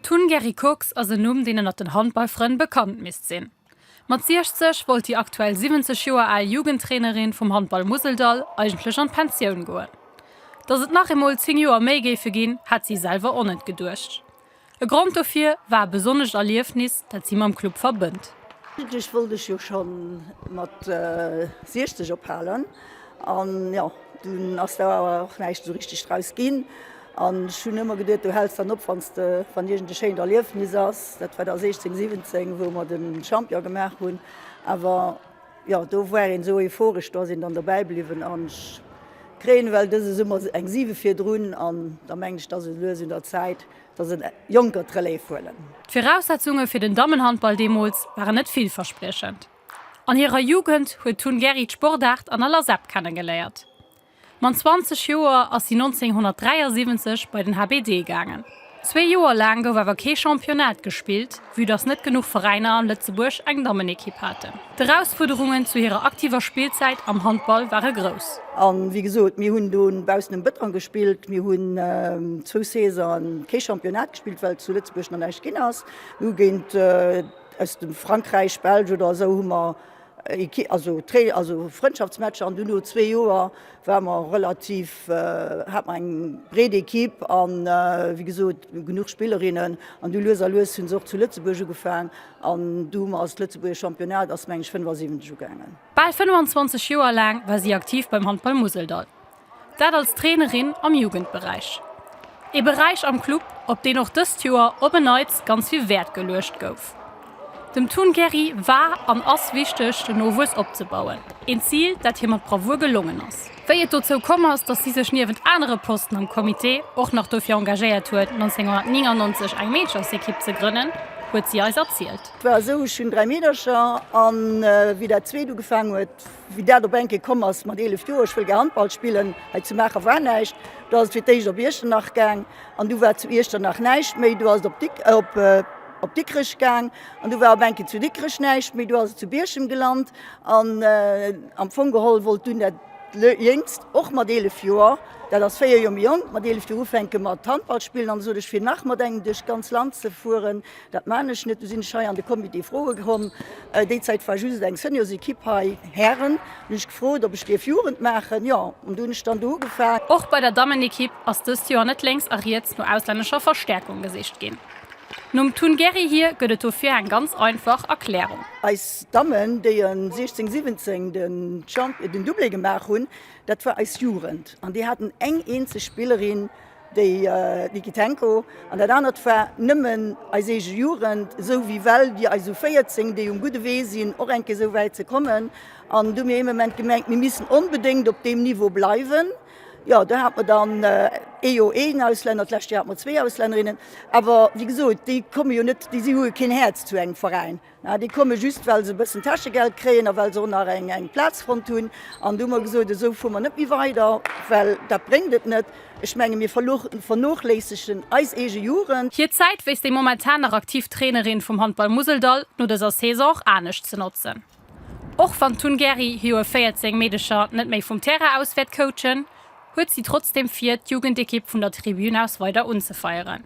D'Hun Gerry Kox ass en Numm, deen ënnert den Handballfrënn bekannt misst sinn. Mat 60 wollt déi aktuell 70 Joer al Jugendtrainerin vum Handball Museldall eigentlech an d'Pensioun goen. Dass et nach eemol 10 Joer méi géife ginn, hat si selwer onet geduecht. E Grond dofir war e besonnescht Erliefnis, dat si mam Club verbënnt. Eigentlech wollt ech jo scho mat 60 ophalen an jo, dunn ass der awer och näischt esou richteg draus ginn. An ech hunn ëmmer geduet, du häls dann op, wann de, wann iergend e schéint Erliefnis ass, dat war da 16, 17, wou mer de Champion gemaach hunn, awer jo, do war een esou euphoresch, do ass een dann dobäi bliwwen. An ech kréien ewell dëse Summer eng 7 virdrun an da mengen ech, et ass esou lues un der Zäit, dass en Jonker d'Relève huelen. D'Viraussetzunge fir den Dammenhandball deemools waren net villverspriechend. An hirer Jugend huet d'Hunn Gerry d'Sportaart an aller Sepp kennegeléiert. Mam 20 Joer ass si 1973 bei den HBD gaangen. Zwee Joer laang gouf awer kee Championnat gespillt, vue dass net genuch Veräiner an Lëtzebuerg eng Dammenekipp haten. D'Erausfuerderungen zu hirer aktiver Spillzäit am Handball ware grouss. A wéi gesot, mir hunn do baussen um Bëttrang gespillt. Mir hunn zwou Saisone kee Championnat gespillt, well zu Lëtzebuerg nach näischt ginn ass. Mir hu géint aus dem Frankräich, Belsch oder esou hu mer. Also Training, also Frëndschaftsmatcher an dunn no zwee Joer ware mer relativ, hat mer eng breet Equipe an wéi gesot genuch Spillerinnen an du lues a lues hunn se och zu Lëtzebuerg ugefaang an du hu mer als lëtzebuergesch Championnat ass meng ech 75 ugaangen. Bal 25 Joer laang war si aktiv beim Handball Museldall. Dat als Trainerin am Jugendberäich. Ee Beräich am Club, op deen och dëst Joer op en Neits ganz vill Wäert geluecht gouf. Dem Tun Gerry war an ass wichteg, den Nowuess opzebauen, een Zil, dat hir mat Bravour gelongen ass. Wéi et dozou komm ass, dass si sech niewent anere Posten am Comité och nach dofir engagéiert huet, 1999 eng Meederchersekipp ze grënnen, huet si eis erzielt. Et war esou, Ech hunn dräi Meedercher, an wéi dat zweet ugefaangen huet, Wéi dat op eng Kéier komm ass mat 11 Joer, ech wëll gär Handball spillen, hei zu Maacher war näischt, do ass et fir d'éischt op Iechternach gaang an du war zu Iechternach näischt méi, du ass et op Dikrech gaang an du war op eng Kéier zu Dikrech näischt méi, du ass et zu Bierchem gelant an am Fong geholl wollt dunn dat Jéngst och mat 11 Joer, dat ass 4 Joer méi jonk, mat 11 Joer ufänke mat Handball spillen an esou duerch fir nach mat engem duerch d'ganz Land ze fueren, Dat maan ech net, du sin ech hei an de Comité froe komm. Déi Zait war just eng Seniorsequipe hei, Hären, hun ech gefrot op ech dierf Jugend maachen, jo, an du hun ech dann do ugefaang. Och bei der Dammenequipe ass dëst Joer net lénks a riets no auslännescher Verstärkung gesicht gin. Nom Tun Gerry hir gëtt et dofir eng ganz einfach Erklärung. Eis Dammen, déi en 16, 17 den Doublé gemaach hun, dat war eis Jugend, an déi haten eng eenzeg Spillerin Déi Niki Tenko an dat anert war nëmmen eis eege Jugend, esou wéi well Dir eis u 14, déi um gudde Wee sinn, och enke esou wäit ze kommen. An du mir ee Moment gemengt, mir missten onbedéngt op deem Niveau bleiwen. Jo, do hat mer dann ee Joer een Auslänner, d'lescht Joer hat mer zwee Auslännerinnen. Awer wéi gesot, déi komme jo net, déi si hu jo keen Häerz zu engem Veräin. Ah, déi komme just, well se e bëssen Täschegeld kréien a well se och nach eng Plaz fonnt hunn. An du hu mer gesot, esou fuer mer net méi weider, well dat bréngt et net. Ech menge mir vernoochléissegen eis eege Jugend. Hir Zäit wéisst déi momentan nach aktiv Trainerin vum Handball Museldall no dëser Saison och anescht ze notzen. Och wann d'Tun Gerry hir u 14 Meedecher net méi vum Terrain aus wäert coachen, huet si trotzdeem vir, d'Jugendekipp vun der Tribün aus weider unzefeieren.